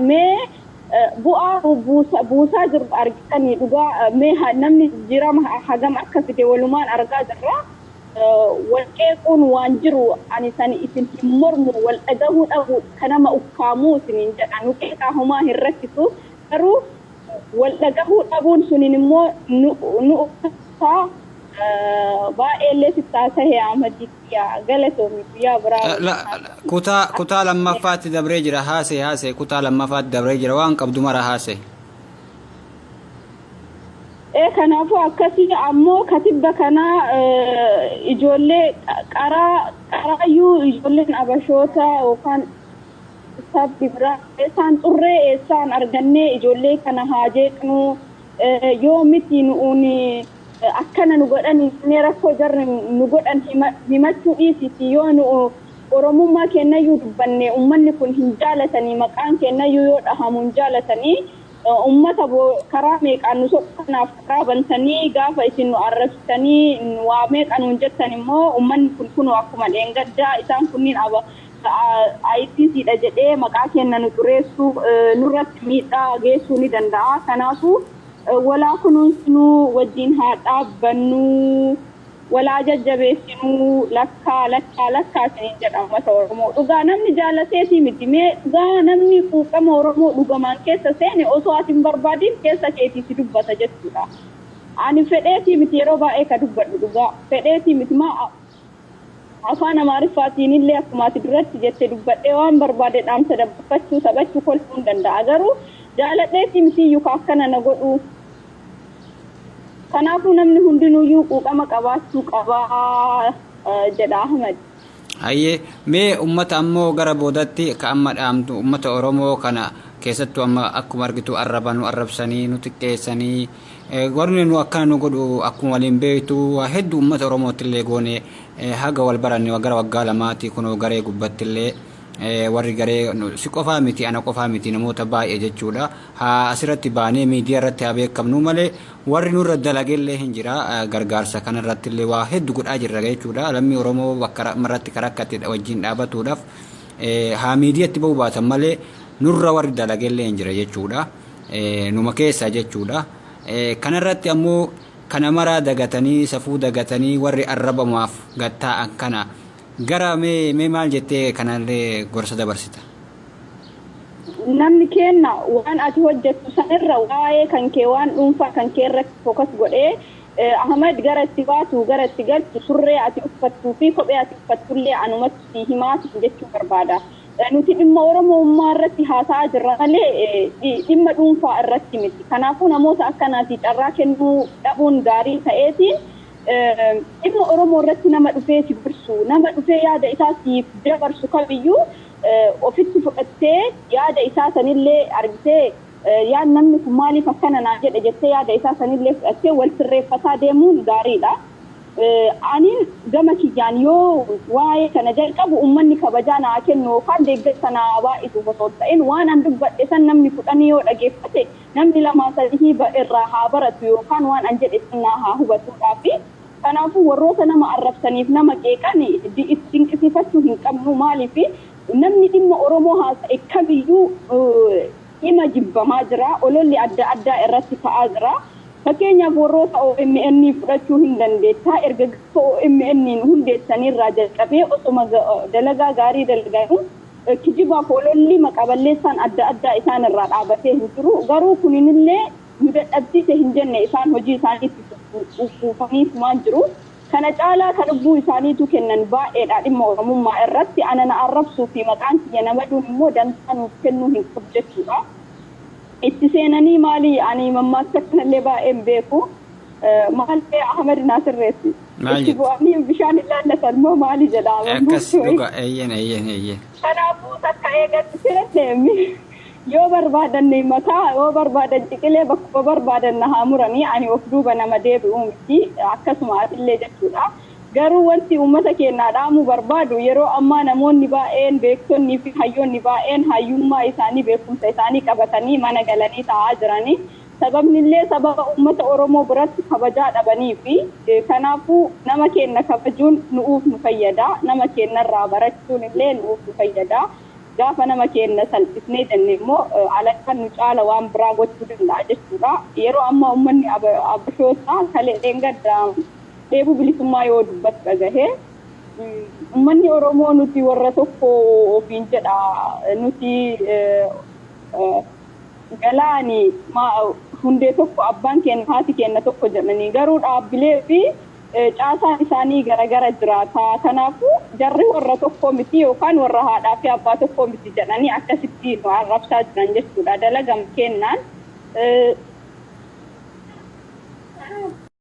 Mee bu'aa buusaa jiru argitanii dhugaa mee namni jijjiirama hagam akka fide walumaan argaa jirra. Wal qeequun waan jiru ani san isin hin mormu wal dhagahuu dhabuu ka nama ukkaamuu isiniin jedha nu qeeqaa homaa hin rakkisu garuu wal dhagahuu dhabuun suniin immoo nu ukkaamsaa baay'ee illee sittaasahee Ahmadiin. Yaa galatoomi guyyaa biraa waliin La- haa la- ta'u. kutaa Akka kutaa waliin lammaffaatti dabree jira haasee haasee kutaa lammaffaatti dabree jira waan qabdu mara haasee Ee, kanaafuu akkasii ammoo katibba kanaa eh, ijoollee qa- qaraa qaraayyuu ijoolleen abashoota yookaan sabni biraa eessaan xurree eessaan argannee ijoollee kana haa jeeqnu eh, yoo miti nu'uuni Akkana nu godhani mee rakkoo jarri nu godhan himachuu dhiisiiti yoo nu oromummaa keennayyuu dubbanne ummanni kun hin jaalatani maqaan keennayyuu yoo dhahamu hin jaalatani ummata karaa meeqaan nu soqu kanaaf karaa bantanii gaafa isin nu arrabsitanii waa meeqa nuun jettan immoo ummanni kun kunoo akkuma dheengaddaa isaan kunniin aba ICC dha jedhee maqaa keenna nu xureessuu nurratti miidhaa geessuu ni danda'a kanaafuu Walaa kunuunsinuu wajjin haa dhaabbannuu walaa jajjabeessinuu lakkaa lakkaa lakkaa isiniin jedha ummata oromoo dhugaa namni jaalateetii miti mee dhugaa namni quuqama oromoo dhugamaan keessa seene osoo ati hin barbaadiin keessa keetii si dubbata jechuudha ani fedheetii miti yeroo baay'ee ka dubbadhu dhugaa fedheetii miti maa Afaan Amaariffaatiinillee akkuma ati duratti jette dubbadhee waan barbaade dhaamsa dabarfachuu, taphachuu, kolfuun danda'a. Garuu jaaladheetii mitiiyyu ka akkana na godhuu. Kanaafuu namni hundinuuyyuu quuqama qabaachuu qaba jedha Ahmad. Hayyee, mee ummata ammoo gara boodatti ka amma dhaamtu ummata Oromoo kana keessattuu amma akkuma argitu arraba nu arrabsanii, nu xiqqeessanii, Gorni nu akkana nu godhu akkuma waliin beektu waa heddu ummata Oromoottillee goone haga wal baranne gara waggaa lamaati kunoo garee gubbattillee warri garee si qofaa miti ana qofaa miti namoota baay'ee jechuudha haa asirratti baanee miidiyaa irratti haa beekamnuu malee warri nurra dalagellee hin jira gargaarsa kanarrattillee waa heddu godhaa jirra jechuudha lammii Oromoo bakka irratti karakkatte wajjin dhaabatuudhaaf haa miidiyatti ba'uu baatan malee nurra warri dalagellee hin jira jechuudha. numa keessaa jechuudha. Kanarratti ammoo kana maraa dagatanii safuu dagatanii warri arrabamaaf gad taa'an kana gara mee mee maal jettee kanallee gorsa dabarsita? Namni keenna waan ati hojjettu sanirra waa'ee kan kee waan dhuunfaa kan kee irratti focus godhee Ahmed gara itti baatu gara itti galtu surree ati uffattuu fi kophee ati uffattullee anumatu sii himaa siin jechuu barbaada. Nuti dhimma Oromoummaa irratti haasa'aa jirra malee dhimma dhuunfaa irratti miti. Kanaafuu namoota akkanaati carraa kennuu dhabuun gaarii ta'eeti. Dhimma Oromoo irratti nama dhufee si gorsu, nama dhufee yaada isaa siif dabarsu kamiyyuu ofitti fudhattee yaada isaa sanillee argitee yaad namni kun maaliif akkana naa jedhe jettee yaada isaa sanillee fudhattee wal sirreeffataa deemuun gaariidha. Anin gama kiyyaan yoo waa'ee kana jalqabu ummanni kabajaa naa kennu yookaan deeggarsa naa haa baay'isuuf osoo hin ta'in waan an dubbadhe san namni kudhanii yoo dhageeffate namni lamaa sadihii irraa haa baratu yookaan waan an jedhe san naa haa hubatuudhaafi. Kanaafuu warroota nama arrabsaniif nama qeeqan itti dinqisiifachuu hin qabnu. Maaliif namni dhimma Oromoo haasa'e kamiyyuu. hima jibbamaa jira, ololli adda addaa irratti ka'aa jira. Fakkeenyaaf warroota omn fudhachuu hin dandeettaa erga gaafa omn hundeessanii irraa jalqabee osoma dalagaa gaarii dalaganuu kijibaaf ololli maqa balleessaan adda addaa isaan irraa dhaabatee hin jiru garuu kuninillee nu dadhabsiise hin jenne isaan hojii isaanii itti fufaniifumaan jiru. Kana caalaa ka lubbuu isaaniituu kennan baay'eedha, dhimma Oromummaa irratti ana na arrabsuu fi maqaan kiyya na baduun immoo dantaa nuuf kennuu hin qabu jechuudha. Itti seenanii maali ani mammaaksa kana illee baay'ee hin beeku. Maal ree Ahmed naa sirreessi. Maal Itti jette? bu'anii bishaan hin laallatan moo maali jedha Akkas mammaaksa wayii. dhugaa eeyyeen eeyyeen eeyyeen. Kanaafuu takka eega itti seenne mi- Yoo barbaadan na himataa, yoo barbaadan ciqilee bakkuma barbaadan na haa muranii ani of duuba nama deebi'u miti, akkasuma atillee jechuudha. Garuu wanti uummata keennaa dhaamuu barbaadu yeroo ammaa namoonni baay'een beektonnii fi hayyoonni baay'een hayyummaa isaanii beekumsa isaanii qabatanii mana galanii taa'aa jirani. Sababnillee sababa uummata Oromoo biratti kabajaa dhabaniifi. Kanaafuu nama keenna kabajuun nu'uuf nu fayyada, nama keennarraa barachuunillee nu'uuf nu fayyada. Gaafa nama keenna salphisnee jenne immoo alangaan nu caala waan biraa gochuu danda'a jechuudha. Yeroo ammaa ummanni Abashootaa ka dheengadda dheebuu bilisummaa yoo dubbatu dhagahe, ummanni Oromoo nuti warra tokko ofiin jedha, nuti galaani, hundee tokko, abbaan keenna, haati keenna tokko jedhanii garuu dhaabbilee fi. Caasaan isaanii gara gara jiraata. Kanaafuu, jarri warra tokko miti yookaan warra haadhaa fi abbaa tokkoo miti jedhanii akkasitti nu arrabsaa jiran jechuudha. Dalagama keennaan.